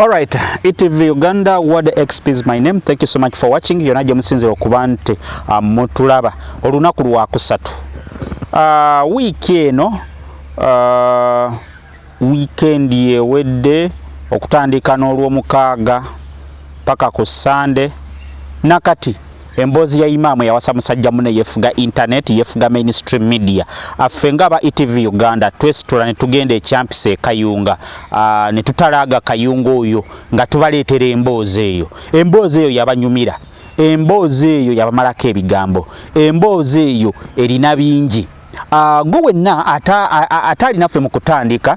Alright, ETV Uganda Word XP is my name. Thank you so much for watching. Yona gye musinzira okuba nti uh, mutulaba olunaku lwa kusatu uh, wiiki eno uh, wiikendi ewedde okutandika n'olwomukaaga paka ku Sande nakati Emboozi ya Imam eyawasa musajja mune yefuga internet yefuga mainstream media affe nga aba ETV Uganda twesitula ne tugenda ekyampisa ekayunga ah, ne tutalaaga kayunga oyo nga tubaleetera emboozi eyo emboozi eyo yabanyumira emboozi eyo yabamalako ebigambo emboozi eyo erina bingi ah, gwe wenna ataalinaffe mu kutandika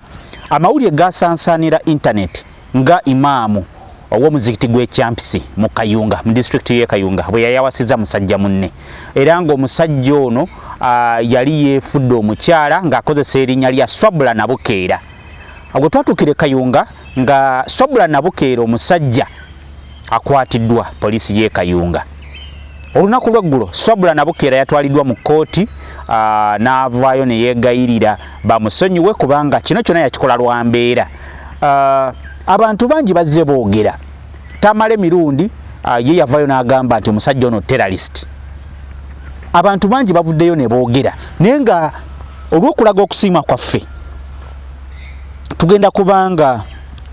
amawulire gasansaanira internet Nga imaamu ow'omuzikiti gw'e Kyampisi mu Kayunga mu disitulikiti y'e Kayunga bwe yayawasizza musajja munne era ng'omusajja ono yali yeefudde omukyala ng'akozesa erinnya lya Swabula Nabukeera. Agwe twatuukira e Kayunga nga Swabula Nabukeera omusajja akwatiddwa poliisi y'e Kayunga. Olunaku lw'eggulo Swabula Nabukeera yatwaliddwa mu kkooti n'avaayo ne yeegayirira bamusonyiwe kubanga kino kyonna yakikola lwa mbeera. Uh, abantu bangi bazze boogera tamale mirundi uh, ye yavayo n'agamba nti omusajja ono terrorist abantu bangi bavuddeyo ne boogera naye nga olw'okulaga okusiima kwaffe tugenda kubanga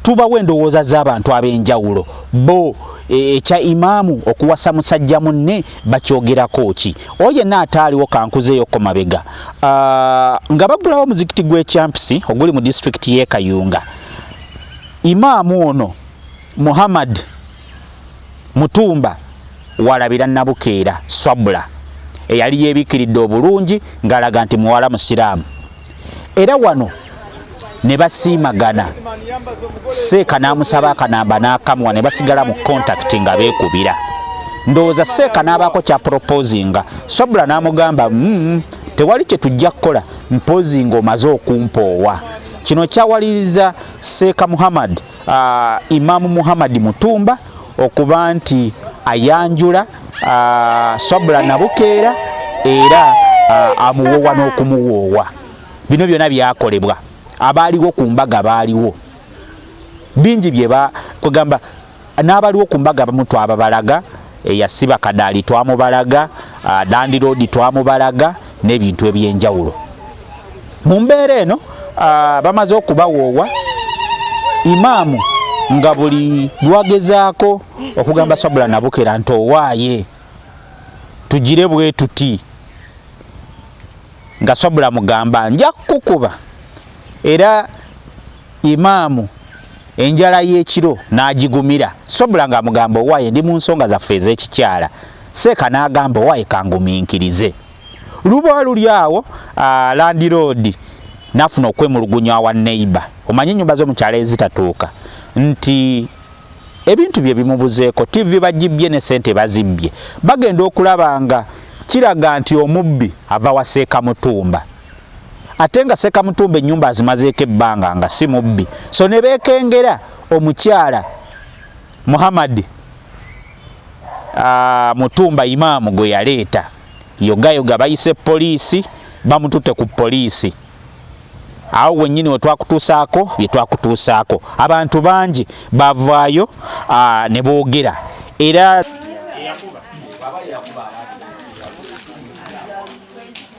tubawo endowooza z'abantu ab'enjawulo bo e, ekya e, imaamu okuwasa musajja munne bakyogerako ki oyo yenna ataaliwo kankuzeeyo ko mabega ah, nga bagulawo omuzikiti gw'ekyampisi oguli mu disitulikiti y'e kayunga imaamu ono muhammad mutumba walabira nabukeera swabula eyali yebikiridde obulungi ng'alaga nti muwala musiraamu era wano ne basiimagana seeka n'amusaba akanamba n'akamuwa ne basigala mu kontakiti nga beekubira ndowooza seeka n'abaako kyapropoozinga sobula n'amugamba mm, tewali kye tujja kukola mpoozinga omaze okumpoowa kino kyawaliriza seeka muhammad uh, Imam Muhammad Mutumba okuba nti ayanjula uh, Sabula Nabukeera era uh, amuwoowa n'okumuwoowa bino byona byakolebwa abaaliwo ku mbaga baaliwo bingi bye kwegamba n'abaliwo ku mbaga bamutwababalaga eyasiba kadaali twamubalaga ah, dandiroodi twamubalaga n'ebintu ebyenjawulo mu mbeera eno ah, bamaze okubawoowa imaamu nga buli lwagezaako okugamba sabula nabukera nti owaaye tugire bwe tuti nga sabula mugamba nja kukukuba era Imaamu enjala y'ekiro n'agigumira. Sobula ng'amugamba owaaye ndi mu nsonga zaffe ez'ekikyala. Seeka n'agamba owaaye kanguminkirize. Luba luli awo landiroodi n'afuna okwemulugunya wa neyiba. Omanyi ennyumba zo mu kyalo ezitatuuka nti ebintu bye bimubuzeeko, ttivi bagibbye ne ssente bazibbye. Bagenda okulaba nga kiraga nti omubbi ava wa Seeka Mutumba. ate nga sekamutumba enyumba azimazeeko ebbanga nga si mubbi so ne beekengera omukyala muhammadi ah, mutumba imaamu gwe yaleeta yogayoga bayise poliisi bamututte ku poliisi awo wenyini wetwakutuusaako byetwakutuusaako abantu bangi bavaayo ah, ne boogera era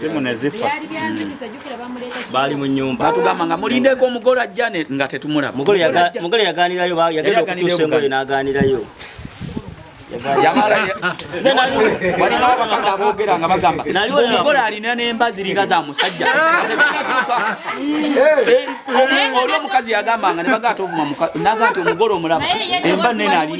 simu nezifa baali mu nyumba batugamba nga mulindeko omugole ajja nga tetumulaba mugole yaganirayo yagenda okutuusa engoye n'aganirayo abogera nga bagamba omugole alina nemba ziringa za musajja oli omukazi yagambanga nebaga ati ovuma naga nti omugole omulaba emba nene ali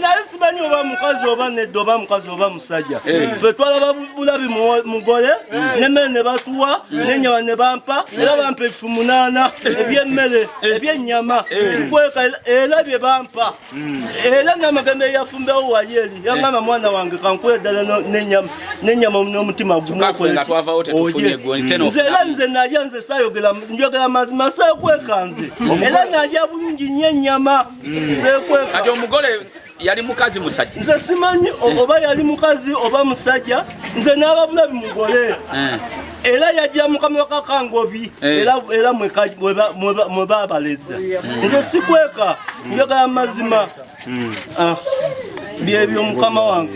naye simanyi oba mukazi oba nedda oba mukazi oba musajja eh. fe twalaba bulabi mugole eh. nemmere ne batuwa eh. nenyama ne bampa era bampa ebifu munaana ebyemmere ebyennyama sikweka era bye bampa Mm. era namagambo eyafumbewo wayeri yangamba eh. mwana wange kankuwe ddala nenyama nomutima gumnzera mm. nze nalya nze sayogera njogera mazima sekweka nze era nalya bulungi nyo enyama mm. sekweka yali mukazi musajja nze simanyi oba yali mukazi oba musajja nze n'ababulabi mugole eh. era yajja mukamiro kakangobi eh. era mwe babaledda hmm. nze sikweka njogala mazima hmm. ah, byebyo mukama wange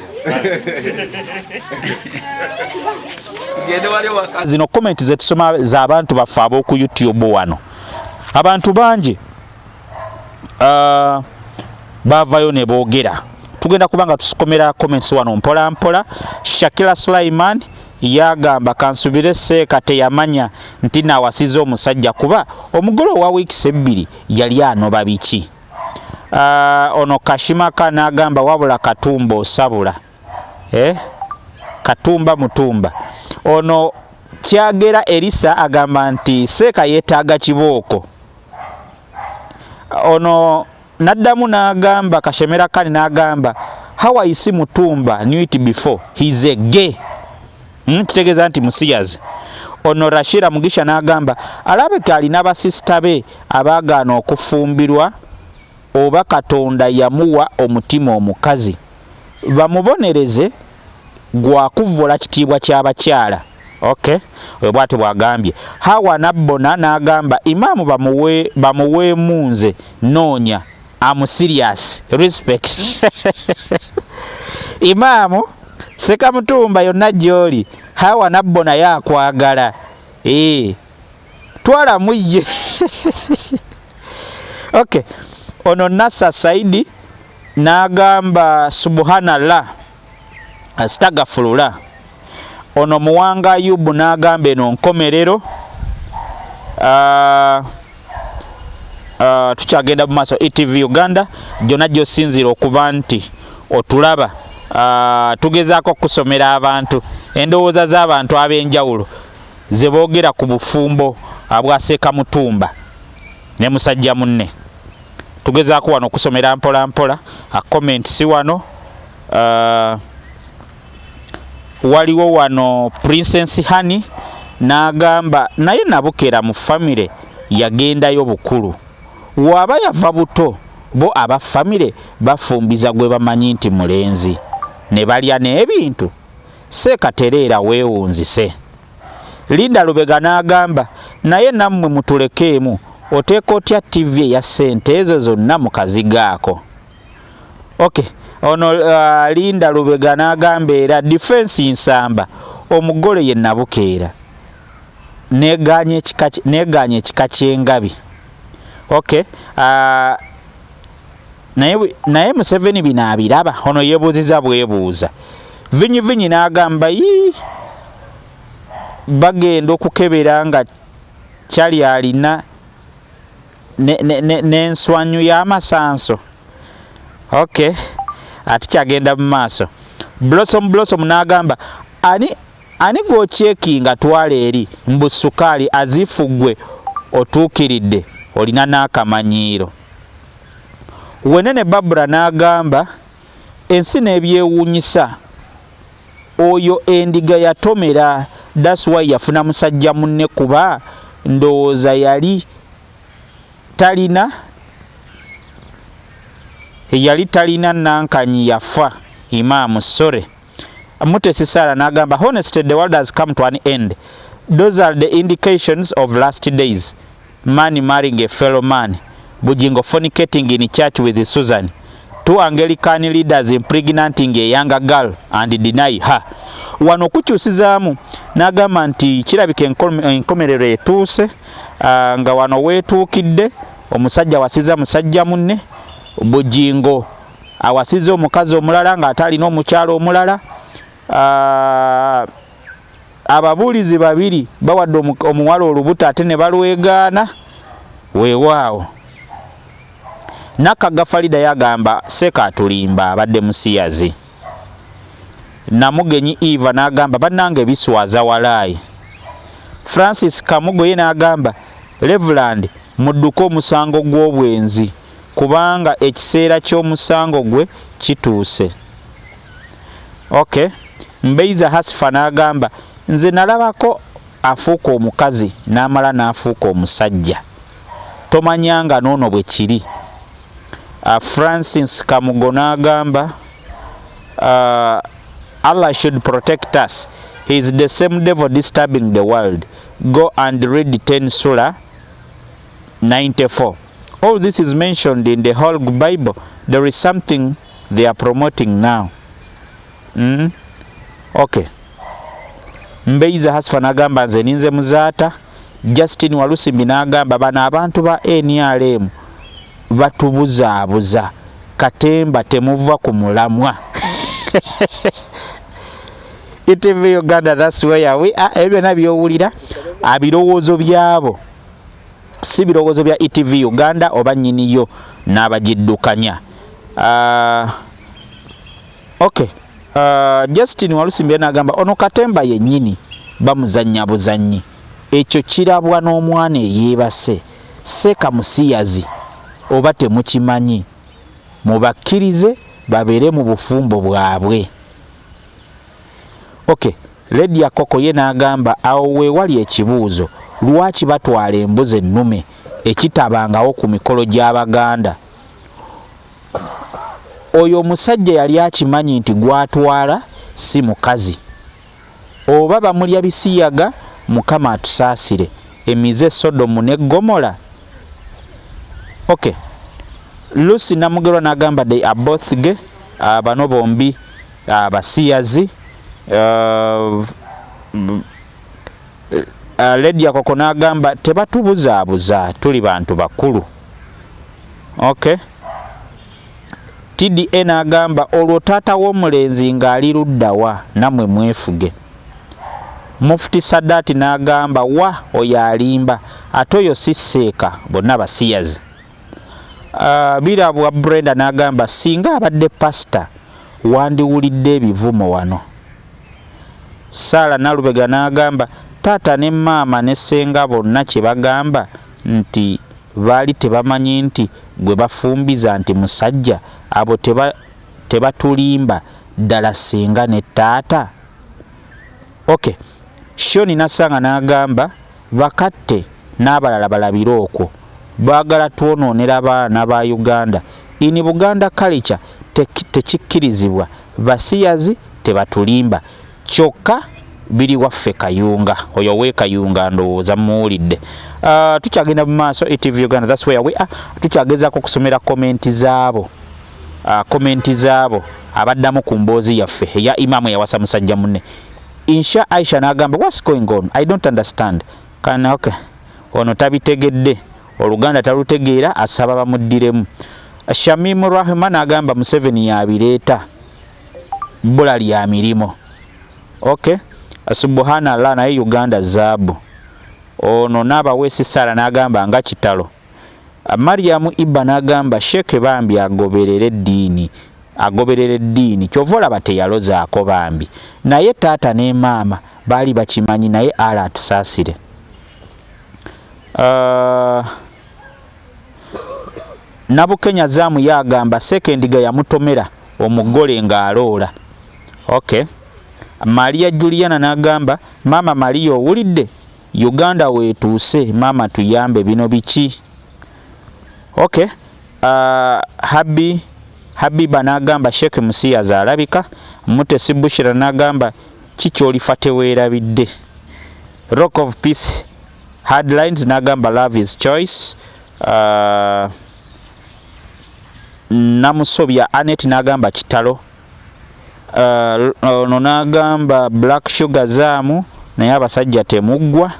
zino komenti zetusoma zabantu baffe aboku youtube wano abantu bangi ah, bavayo nebogera tugenda kubanga tusikomera comments wano mpola mpola shakila sulaiman Yagamba kansubire seeka teyamanya nti nawasiza omusajja kuba omugole owa wiikisi ebbiri yali anoba biki? Uh, ono kashimaka nagamba wabula katumba osabula eh? katumba mutumba ono kyagera elisa agamba nti seeka yetaaga kibooko ono Naddamu n'agamba Kashemera Khan n'agamba how I see Mutumba knew it before he is a gay hmm, kitegeeza nti musiyazi ono Rashira Mugisha n'agamba alabika alina basisita be abaagaana okufumbirwa oba Katonda yamuwa omutima omukazi bamubonereze gwa kuvvola kitiibwa ky'abakyala. Okay, oyo bwati bwagambye hawa nabbona n'agamba imaamu bamuwe bamuweemu nze noonya am serious respect imaamu sekamutumba yonna gy'oli hawa nabbona yakwagala ee twala muyye okay ono nasa saidi n'agamba subhanallah astagafulula ono muwanga ayubu n'agamba eno nkomerero uh, uh, tukyagenda mu maaso etv uganda gyonna gyosinziira okuba nti otulaba uh, tugezaako okusomera abantu endowooza z'abantu ab'enjawulo ze boogera ku bufumbo abwaseeka mutumba ne musajja munne tugezaako wano okusomera mpola mpola a comment si wano uh, waliwo wano princess honey n'agamba naye nabukera mu famire yagendayo bukulu waaba yava buto bo aba famire bafumbiza gwe bamanyi nti mulenzi ne balya n'ebintu seekatereera weewunzise Linda Lubega n'agamba, naye nammwe mutulekeemu, oteeka otya ttivi eya ssente ezo zonna mu kazigo ako? Okay. Ono uh, Linda Lubega n'agamba era difensi Nsamba omugole ye Nabukeera negaanye ekika ky'engabi. Okay. Uh, naye naye museveni bino abiraba ono yebuuziza bwebuuza vinyi vinyi n'agamba yi bagenda okukebera nga kyali alina n'enswanyu y'amasanso ok ati kyagenda mu maaso blossom blossom n'agamba ani ani gwokyekinga twala eri mbu sukaali azifuggwe otuukiridde olina n'akamanyiiro Wenene Barbara n'agamba ensi n'ebyewuunyisa oyo endiga yatomera that's why yafuna musajja munne kuba ndowooza yali talina yali talina nankanyi yafa imaamu sorry mutesi sara n'agamba honestly the world has come to an end those are the indications of last days Man marrying a fellow man. Bujingo fornicating in church with Susan. Two Anglican leaders impregnating a younger girl and deny her. Wano kukyusizaamu n'agamba nti kirabika enkomerero etuuse ah, nga wano weetuukidde omusajja wasiza musajja munne Bujingo awasiza omukazi omulala ng'ate alina omukyalo omulala ah, ababuulizi babiri bawadde omuwala olubuto ate ne balwegaana weewaawo nakagga falida yagamba seeka atulimba abadde musiyazi namugenyi eva n'agamba bannanga ebiswaza walaayi francis kamugo ye n'agamba reveland mudduke omusango gw'obwenzi kubanga ekiseera ky'omusango gwe kituuse Okay. Mbeiza Hasifa n'agamba nze nalabako afuuka omukazi n'amala n'afuuka omusajja tomanya nga n'ono bwe kiri uh, Francis Kamugo n'agamba uh, Allah should protect us he is the same devil disturbing the world go and read 10 sura 94 all this is mentioned in the whole Bible there is something they are promoting now mm? okay mbeiza hasfa nagamba nze ninze muzaata justin walusimbi nagamba bano abantu ba nrm batubuzaabuza katemba temuva ku mulamwa etv uganda thats where we are ebyo byona byowulira abirowoozo byabo si birowoozo bya etv uganda oba nyiniyo n'abagiddukanya uh, ok uh, ah, justin walusimbire n'agamba ono katemba yennyini bamuzannya buzannyi ekyo kirabwa n'omwana eyeebase seeka musiyazi oba temukimanyi mubakkirize babeere mu bufumbo bwabwe okay Lady Akoko ye n'agamba awo we wali ekibuuzo, lwaki batwala embuzi ennume ekitabangawo ku mikolo gy'Abaganda? Oyo omusajja yali akimanyi nti gw'atwala si mukazi. Oba bamulya bisiyaga, Mukama atusaasire, emize Sodomu ne Ggomola? Okay. Lucy Namugerwa n'agamba they are both gay, ah, bano bombi abasiyazi uh, uh, ledi yakoko nagamba tebatubuzaabuza tuli bantu bakulu okay tda nagamba olwo taata w'omulenzi ng'ali luddawa namwe mwefuge mufuti sadaati nagamba wa oyo alimba ate oyo si seeka bonna basiyazi Ah, birabwa brenda n'agamba singa abadde pasita wandiwulidde ebivumo wano saala nalubega n'agamba taata ne maama ne senga bonna kye bagamba nti baali tebamanyi nti gwe bafumbiza nti musajja abo tebatulimba ddala singa ne taata ok shoni nasanga n'agamba Bakatte n'abalala balabire okwo. Baagala twonoonera baana ba Uganda. In Buganda culture tekikkirizibwa. Basiyazi tebatulimba. Kyokka biri waffe Kayunga. Oyo ow'e Kayunga ndowooza mumuwulidde. Uh, tukyagenda mu maaso ETV Uganda, that's where we are. Tukyagezaako okusomera komenti zaabo. Uh, komenti zaabo abaddamu ku mboozi yaffe eya imaamu eyawasa musajja munne. Insha Aisha nagamba what's going on I don't understand kana okay ono tabitegedde oluganda talutegeera asaba bamuddiremu Shamim Rahman agamba Museveni yabireeta bbula lya mirimu okay subuhana allah naye Uganda zaabu ono naabaweesi saala nagamba nga kitalo Mariam Iba n'agamba Sheikh bambi agoberere eddiini agoberera eddiini kyova olaba teyalozaako bambi naye taata ne maama baali bakimanyi naye ala atusaasire uh, nabukenya zaamu yagamba sekendiga yamutomera omugole ng'aloola ok maria juliana n'agamba maama maria owulidde Uganda wetuuse maama tuyambe bino biki okay uh, habi habiba nagamba sheikh musiyaza alabika mutesi bushira nagamba kikyolifa tewerabidde rock of peace hardlines nagamba love is choice uh, namusobya anet nagamba kitalo uh, ono n'agamba black sugar zaamu naye abasajja temuggwa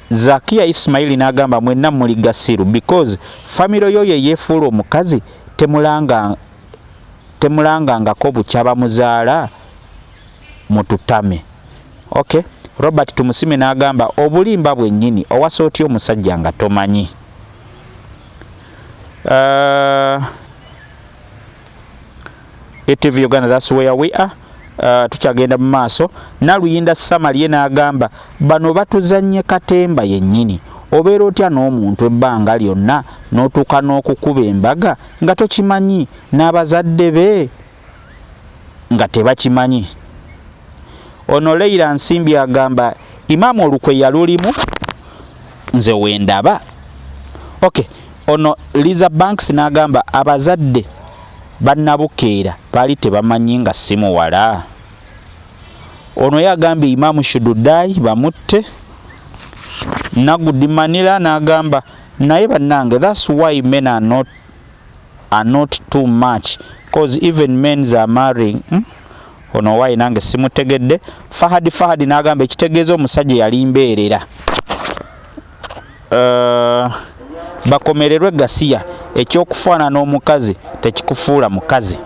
zakiya ismaili n'agamba mwenna muli gasiru because famiro yo ye yeefuula omukazi temulanga temulangangako bukyaba muzaala mututame okay robert tumusime n'agamba obulimba bwennyini owasa otya omusajja nga tomanyi uh, ATV Uganda that's where we are uh, tukyagenda mu maaso naluyinda samalie n'agamba bano batuzannye katemba yennyini obeera otya n'omuntu ebbanga lyonna n'otuuka n'okukuba embaga nga tokimanyi n'abazadde be nga tebakimanyi ono leira nsimbi agamba imaamu olukwe yalulimu nze wendaba okay ono liza banks n'agamba abazadde bannabukeera baali tebamanyi nga si muwala ono yagambye imaamu shududayi bamutte nagudi manila n'agamba naye bannange thats why men are not, are not too much cause even mens are marrying hmm? ono owaye nange simutegedde fahadi fahadi nagamba ekitegeeza omusajja yali mbeerera uh, bakomererwe gasiya ekyokufaanana omukazi tekikufuula mukazi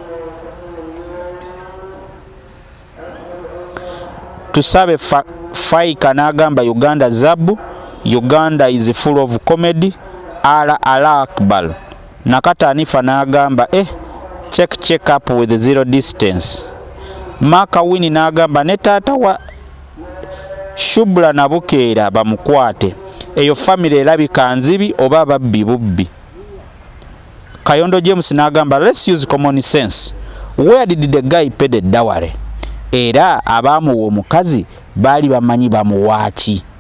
tusabe fa, faika nagamba uganda zabu uganda is full of comedy ala ala akbar Nakata Anifa n'agamba eh, check check up with zero distance. Maaka Wini n'agamba ne taata wa Shubla na Bukeera bamukwate. Eyo famire erabika nzibi oba babbi bubbi. Kayondo James n'agamba let's use common sense. Where did the guy pay the dowry? Era abaamuwa omukazi baali bamanyi bamuwaaki.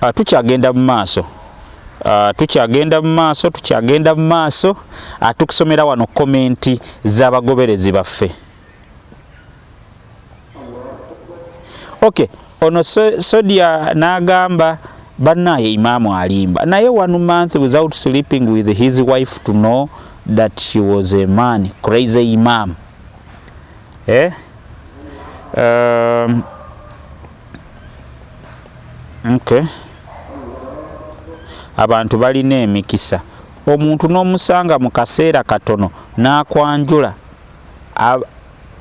Ah, tukyagenda mu maaso ah, tukyagenda mu maaso tukyagenda mu maaso ah, tukusomera wano komenti z'abagoberezi baffe ok ono sodia n'agamba banaye imaamu alimba naye one month without sleeping with his wife to know that she was a man crazy imam eh? um, Okay. Abantu balina emikisa. Omuntu n'omusanga mu kaseera katono n'akwanjula.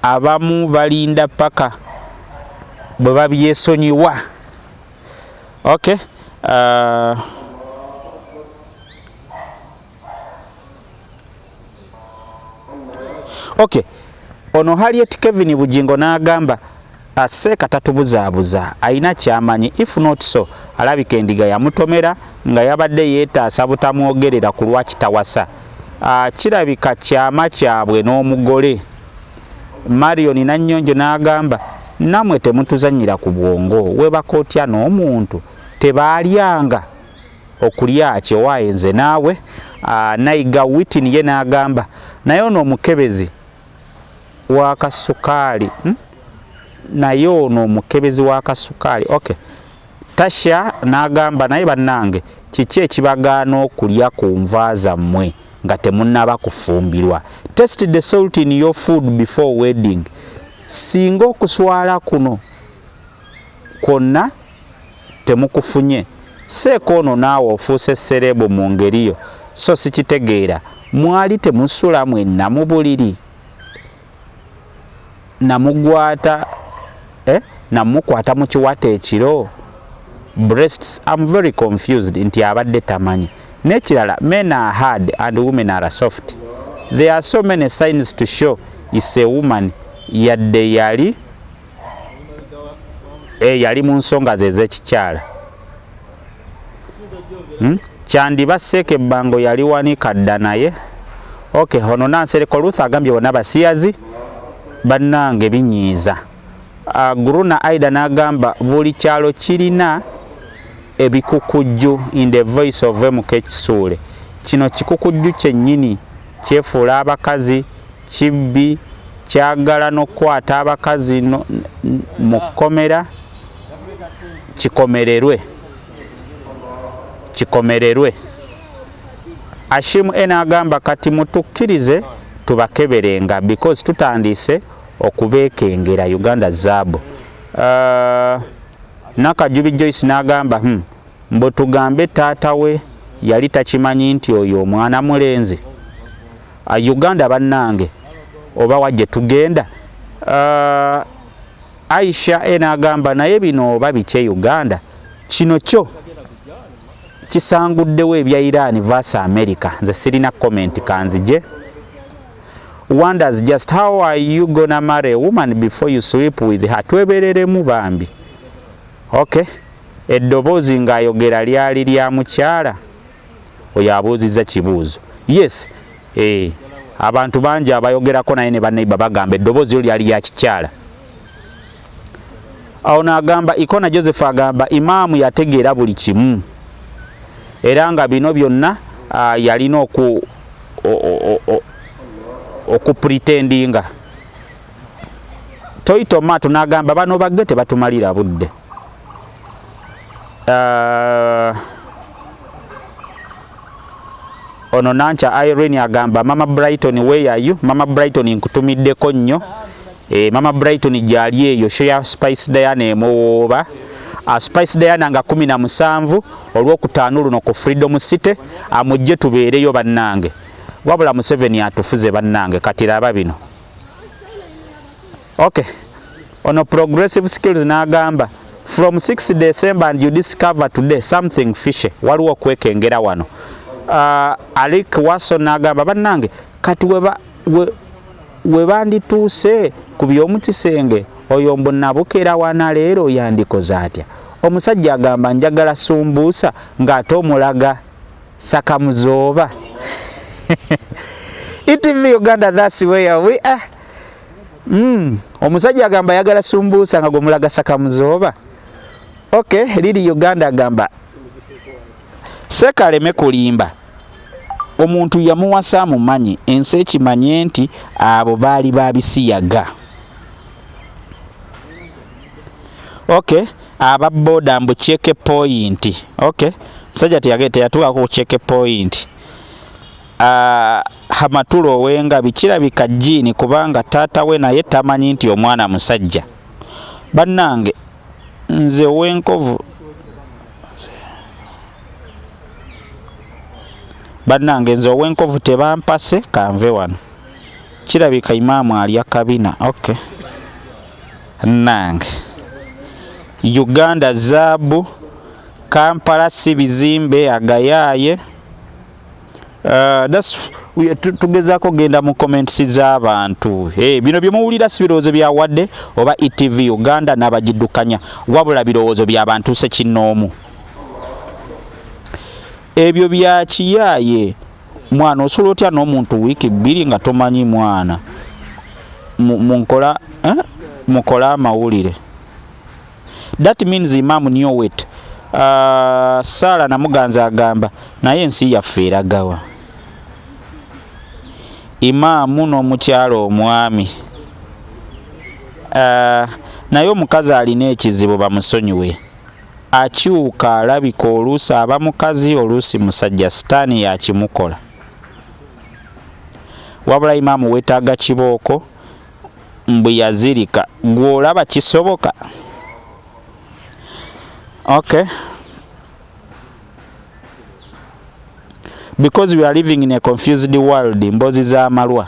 Abamu balinda paka bwe babyesonyiwa. Okay. Uh, Okay. Ono Harriet Kevin Bujingo n'agamba aseeka tatubuzaabuza alina kyamanyi if not so alabika endiga yamutomera nga yabadde yeetaasa butamwogerera ku lwaki tawasa ah, kirabika kyama kyabwe n'omugole marion nannyonjo n'agamba namwe temutuzannyira ku bwongo webaka otya n'omuntu tebaalyanga okulya kyewaye nze naawe ah, nayiga witin ye n'agamba naye ono omukebezi wakasukaali hmm? naye ono omukebezi wakasukaali ok tasha n'agamba naye bannange kiki ekibagaana okulya ku nva zammwe nga temunaba kufumbirwa test the salt in your food before wedding singa okuswala kuno kwonna temukufunye seeka ono naawe ofuuse sereebu mu ngeri yo so sikitegeera mwali temusula mwenna mu buliri namugwata eh? namukwata mu kiwata ekiro breasts am very confused nti abadde tamanyi nekirala men are hard and women are soft there are so many signs to show is a woman yadde yali eh, yali mu nsonga ze ez'ekikyala hmm? kyandiba seeka ebbango yali wanika dda naye ok ono nansereko ruth agambye bona basiyazi bannange binyiiza ah, guruna aida n'agamba buli kyalo kirina ebikukujju in the voice of mk kisuule kino kikukujju kyennyini kyefuula abakazi kibbi kyagala nokukwata abakazi mukkomera kikomererwe kikomererwe Ashim N agamba kati mutukirize tubakeberenga because tutandiise okubekengera Uganda zaabu uh, Nakajubi Joyce n'agamba hmm, mbu tugambe taata we yali takimanyi nti oyo omwana mulenzi Ah, Uganda bannange oba wajje tugenda uh, Aisha ena agamba naye bino oba bikye Uganda kino kyo kisanguddewo ebya Iran vs America nze sirina comment kanzije wonders just how are you gonna marry a woman before you sleep with her twebereremu bambi okay eddoboozi ng'ayogera lyali lya mukyala oyo abuuzizza kibuuzo yes eh, abantu bangi abayogerako naye ne baneiba bagamba eddoboozi yo lyali ya kikyala awo naagamba ikona joseph agamba imaamu yategeera buli kimu era nga bino byonna ah, yalina oku okupretendinga toyita omaato n'agamba bano bagge tebatumalira budde uh, ono nanca irene agamba mama brighton weyayu mama brighton nkutumiddeko nnyo e, mama brighton gyali eyo shoya spice diana emuwooba uh, spice diana nga 17 olwokutaano luno ku freedom city amujje tubeereyo bannange wabula museveni atufuze bannange kati laba bino okay ono progressive skills n'agamba from 6 december and you discover today something fishe waliwo okwekengera wano uh, alik waso n'agamba bannange kati weba we, we bandituuse ku by'omu kisenge oyo mbu nabukera wana leero yandikoze atya omusajja agamba njagala sumbuusa ng'ate omulaga saka muzooba etv uganda thats where we are mm. omusajja agamba ayagala sumbuusa nga gwemulaga saka muzooba ok lili uganda agamba sekaleme kulimba omuntu yamuwasa amumanyi ensi ekimanye nti abo baali babisiyaga okay aba boda mbu check point okay musajja teyagenda teyatuukako ku check point uh, hamatula owengabi kirabika jiini kubanga taata we naye tamanyi nti omwana musajja bannange nze owenkovu bannange nze owenkovu tebampase kanve wano kirabika imaamu alya kabina okay Nange. Uganda zaabu. Kampala si bizimbe agayaaye. Uh, that's tugezaako genda mu comments z'abantu hey, eh, bino bye muwulira si birowoozo bya wadde oba etv uganda n'abagiddukanya wabula birowoozo bya bantu sekinnoomu ebyo bya kiyaaye mwana osula otya n'omuntu wiiki bbiri nga tomanyi mwana munkola eh? mukole amawulire that means imam newet uh, ah, saala namuganza agamba naye ensi yaffe eragawa imaamu n'omukyala omwami uh, naye omukazi alina ekizibu bamusonyiwe Akyuka alabika oluusi aba mukazi oluusi musajja sitaani yakimukola. Wabula Imam wetaaga kibooko mbu yazirika gwe olaba kisoboka? Okay. Because we are living in a confused world mbozi za malwa.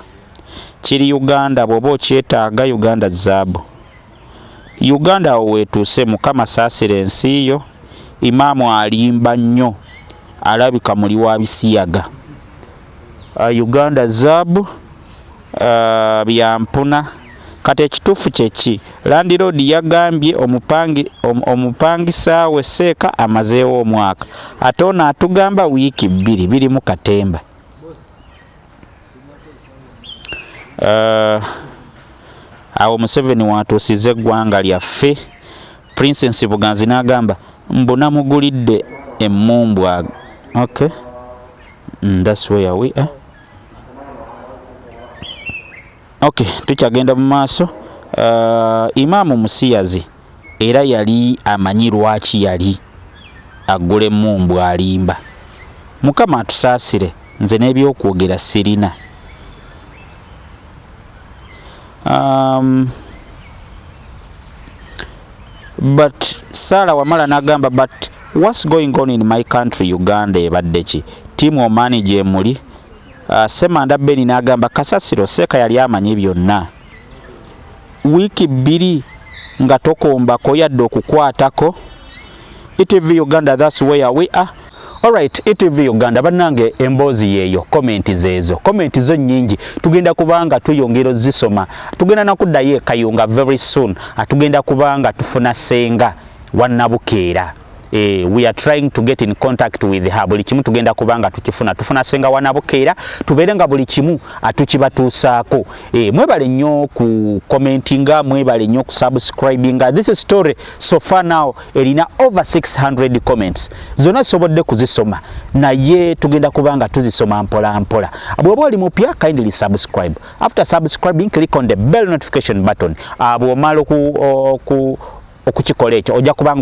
Kiri Uganda bwoba okyetaaga Uganda zaabu. Uganda awo wetuuse mukama saasira ensi yo Imam alimba nnyo alabika muli wa bisiyaga uh, Uganda zaabu uh, byampuna kati ekituufu kyeki landiroodi yagambye omupangi, om, omupangisa we seeka amazeewo omwaka ate ono atugamba wiiki bbiri biri mu katemba eh, awo museveni watuusiza eggwanga lyaffe princess buganzi n'agamba mbu namugulidde emmumbwa okay mm, that's where we are okay tukyagenda mu maaso uh, imaamu musiyazi Era yali amanyi lwaki yali aggula emmumbu alimba. Mukama atusaasire nze n'ebyokwogera sirina. Um, but Sarah wamala nagamba but what's going on in my country Uganda ebadde ki tiimu omaani gyemuli uh, Semanda Beni nagamba kasasiro seeka yali amanyi byonna. wiiki bbiri nga tokombako yadde okukwatako etv uganda thats where we are Alright, ETV Uganda banange emboozi yeyo comment zezo comment zo nyingi tugenda kubanga tuyongera zisoma tugenda nakuddayo ekayunga very soon atugenda kubanga tufuna senga wanabukeera Eh, we are trying to get in contact with her buli kimu tugenda kubanga tukifuna tufuna senga wanabukeera tubeere nga buli kimu atukibatuusaako eh, mwebale nnyo ku commentinga mwebale nnyo ku subscribinga this story so far now erina over 600 comments zonna zisobodde kuzisoma naye tugenda kubanga tuzisoma mpola mpola bwoba oli mupya kindly subscribe after subscribing click on the bell notification button ah, bwomala oku okukikola ekyo ojja kubanga